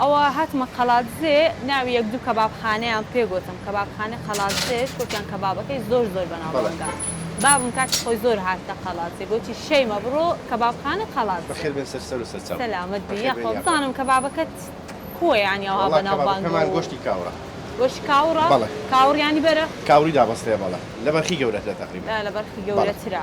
ئەوە هاتمە قەڵادزێ ناوی یەک دوو کەباب خانەیان پێ گۆتم کەباب خانەی قەڵادزێش گۆتیان کەبابەکەی زۆر زۆر بەناو بانگە بابم کاتی خۆی زۆر هاتتە قەڵادزێ گۆتی شەیمە بڕۆ کەباب خانەی قەڵادزێ بەخێر بێن سەر سەر و سەر چاو سەلامەت بی بەخێر یاخوا بێن یاخوا بزانم کەبابەکەت کووە یانی ئەوها وەڵا بەناو کەبابە بانگە کەمان و گۆشتی کاوڕە گۆشی کاوڕە بەڵێ کاوڕ یانی بەرخ کاوڕی دابەستەیە بەڵێ لە بەرخی گەورەترە تەقریبەن بەلە بەرخی بەڵێ گەورەترە.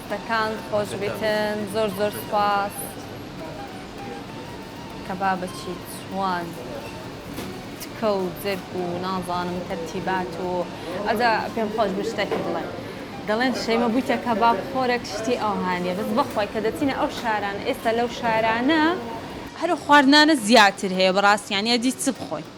دەستەکانت خۆش بیتن زۆر زۆر سوپاس کەبابەچی چوان تکە و جەرگ و نازانم تەرتیبات و ئەجا پێم خۆش بوو شتێک بڵێم دەڵێن شەیمە بوویتە کەباب خۆرەک شتی ئەوهانیە بەس بەخوای کە دەچینە ئەو شارانە ئێستا لەو شارانە هەرو خواردنانە زیاتر هەیە بەڕاستی یانی ئەدی چ بخۆین.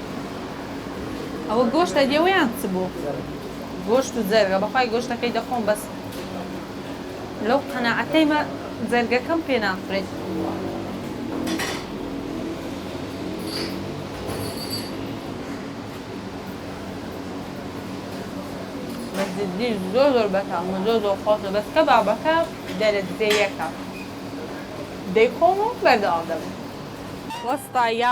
ئەوە گۆشتە لێوە یان چ بوو؟ گۆشت و جەرگە بەخوای گۆشتەکەی دەخۆم بەس لەو قەناعەتەیمە جەرگەکەم پێ ناخورێت. جدی زۆر زۆر بەتامە زۆر زۆر خۆشە بەس کە بابەکە دەرەجەیەکە دەیخۆم و بەردەوام دەبم وەستا یا